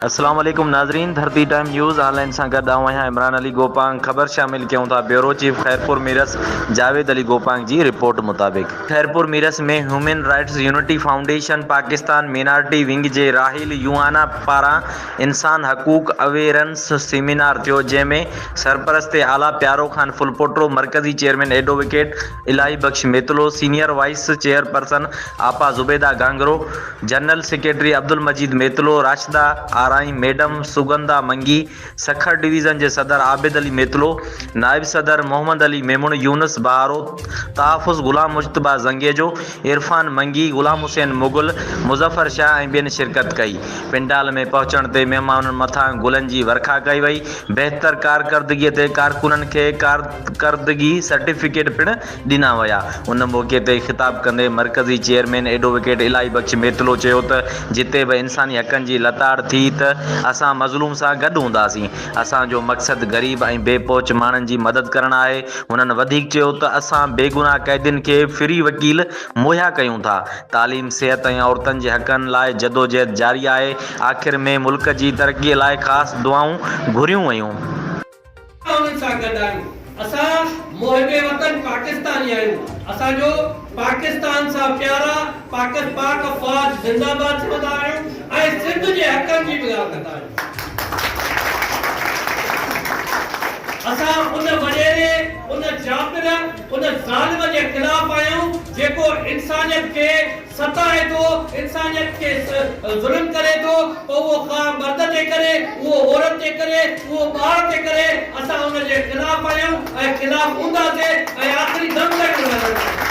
السلام عليڪم ناظرين Dharti time news online سان گڏ آئون آهيان عمران علي گوپانگ خبر شامل ڪيون ٿا بيورو چيف خيرپور ميرس جاويد علي گوپانگ جي رپورٽ مطابق Khairpur Mirs ۾ human rights unity foundation Pakistan minority wing جي راحيل يوهانا پاران انسان حقوق اويرنس سيمينار ٿيو جنهن ۾ سرپرست اعليٰ پيارو خان ڦلپوٽو، مرڪزي چيئرمين ايڊووڪيٽ الاهي Bux Mitlo, senior vice chairperson آپا Zubaida Gangro, general secretary Abdul Majeed Mitlo, Rashida Arain madam, Sugandha Mangi, Sukkur division جي صدر عابد علي ميتلو، نائب صدر محمد علي ميمڻ، يونس بهارو، تحفظ غلام مجتبيٰ زنگيجو، عرفان منگي، غلام حسين مغل، مظفر شاهه ۽ ٻين شرڪت ڪئي. پنڊال ۾ پهچڻ تي مهمانن مٿان گلن جي ورکا ڪئي وئي. بهتر ڪارڪردگي تي ڪارڪنن کي ڪارڪردگي سرٽيفڪيٽ پڻ ڏنا ويا. ان موقعي تي خطاب ڪندي مرڪزي چيئرمين ايڊووڪيٽ الاهي بخش ميتلو چيو ته جتي به انساني حقن جي لتاڙ ٿي ته اسان مظلوم سان گڏ هونداسين. اسان جو مقصد غريب ۽ بي پهچ ماڻهن جي مدد ڪرڻ آهي. هنن وڌيڪ چيو ته اسان بيگناهه قيدين کي فري وڪيل مهيا ڪيون ٿا. تعليم، صحت ۽ عورتن جي حقن لاء جدوجهد جاري آهي. آخر ۾ ملڪ جي ترقي لاء خاص دعائون گهريون ويون. انهن سان گڏ آهيون. اسان محب وطن پاڪستاني آهيون اسان جو پاڪستان سان پيار آ پاڪت پاڪ افواج زنده باد چوندا آهيون ۽ سنڌ جي حقن جي به ڳالهه ڪندا آهيون اسان ان وڏيري ان جابر ان ظالم جي خلاف آهيون جيڪو انسانيت کي ستائي ٿو، انسانيت کي ظلم ڪري ٿو، پوء اهو خواهه مرد تي ڪري، اهو عورت تي ڪري، اهو ٻار تي ڪري، اسان ان جي خلاف آهيون ۽ خلاف هونداسين ۽ آخري دم تائين به رهنداسين.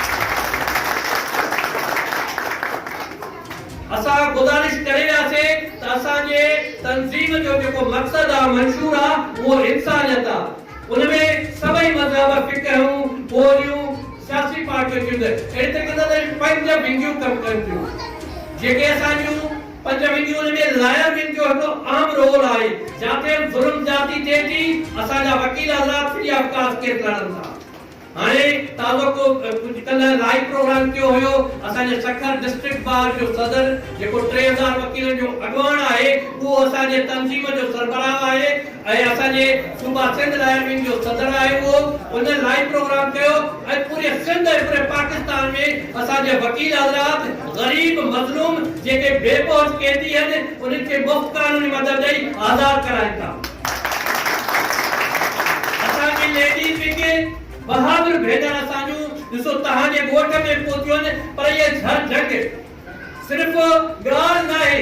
اسان گذارش ڪري وياسين ته اسان جي تنظيم جو جيڪو مقصد آ، منشور آ، اهو انسانيت آ. ان ۾ سڀئي مذهب، فقهون، ٻوليون، سياسي پارٽيون ٿيون ته اهڙي طريقي سان اسان پنج ونگيون ڪم ڪن ٿيون جيڪي اسان جون پنج ونگيون ان ۾ لاير ونگ جو هڪڙو اهم رول آهي جاٿي ظلم زيادتي ٿئي ٿي اسان جا وڪيل حضرات فري آف ڪاسٽ ڪيس لڙن ٿا. هاڻي توقع ڪجهه ڪلهه لائيو پروگرام ڪيو هيو اسان جي سکر ڊسٽرڪٽ بار جو صدر جيڪو ٽي هزار وڪيلن جو اڳواڻ آهي اهو اسان جي تنظيم جو سربراهه آهي ۽ اسان جي صوبا سنڌ لاير ونگ جو صدر آهي اهو ان لائيو پروگرام ڪيو ۽ پوري سنڌ ۽ پوري پاڪستان ۾ اسان جي وڪيل حضرات غريب، مظلوم، جيڪي بي پهچ قيدي هن، انهن کي مفت قانوني مدد ڏئي آزاد ڪرائين ٿا. اسان جي ليڊيز وگ ۽ بهادر ڀينر اسان جون ڏسو تهان جي ڳوٺ ۾ پهتيون آهن پر اهي جهر جنگ صرف ڳالهه ناهي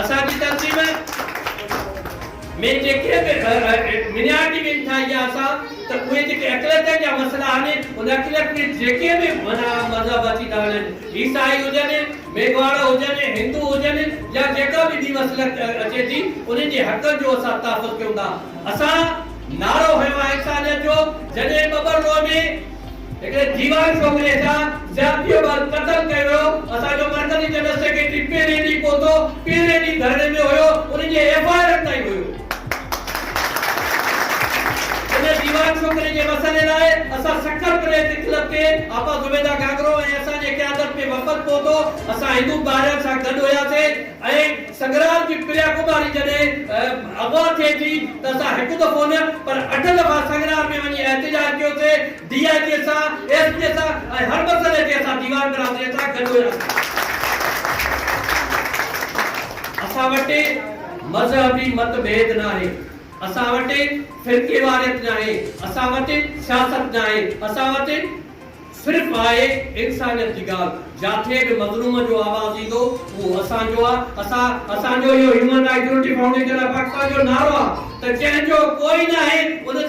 اسان جي تنظيم ۾ جيڪي به مينارٽي وين ٺاهي يا اسان ته اهي جيڪي اقليتن جا مسئلا آهن ان اقليت ۾ جيڪي به معنيٰ مذهب اچي ٿا وڃن عيسائي هجن ميگهواڙ هجن هندو هجن يا جيڪا به ٻي مسئل اچي ٿي انهن جي حقن جو اسان تحفظ ڪيون ٿا اسان نعرو هنيو آهي انسانيت جو جڏهن ٻٻر روء ۾ هڪڙي جيوان ڇوڪري سان زيادتيء بعد قتل ڪيو ويو، اسان جو مرڪزي جنرل سيڪريٽري پهرين ڏينهن پهتو، پهرين ڏينهن ڌرڻي ۾ هيو، ان جي ايف آء آرن تائين هيو. ان جيوان ڇوڪري جي مسئلي لاء اسان سکر پريس ڪلب تي آپا زبيده گاگرو ۽ اسان جي قيادت ۾ وفد پهتو، اسان هندو ٻارڙن سان گڏ هياسين ۽ سنگرام جي پريا ڪماري جڏهن اغوا ٿئي ٿي ته اسان هڪ دفعو نه پر اٺ دفعا سنگرام ۾ وڃي احتجاج ڪيو سي، ڊي آء جي سان، ايس پي سان ۽ هر مسئلي تي اسان ديوان برادري سان گڏ هيا سي. اسان وٽ مذهبي مت ڀيد ناهي، اسان وٽ فرقيواريت ناهي، اسان وٽ سياست ناهي، اسان وٽ. صرف آهي انسانيت جي ڳالهه، جاٿي به مظلوم جو آواز ايندو اهو اسان جو آ، اسان اسان جو اهو human right unity foundation of Pakistan جو نعرو آ ته جنهن جو ڪوئي ناهي ان جا.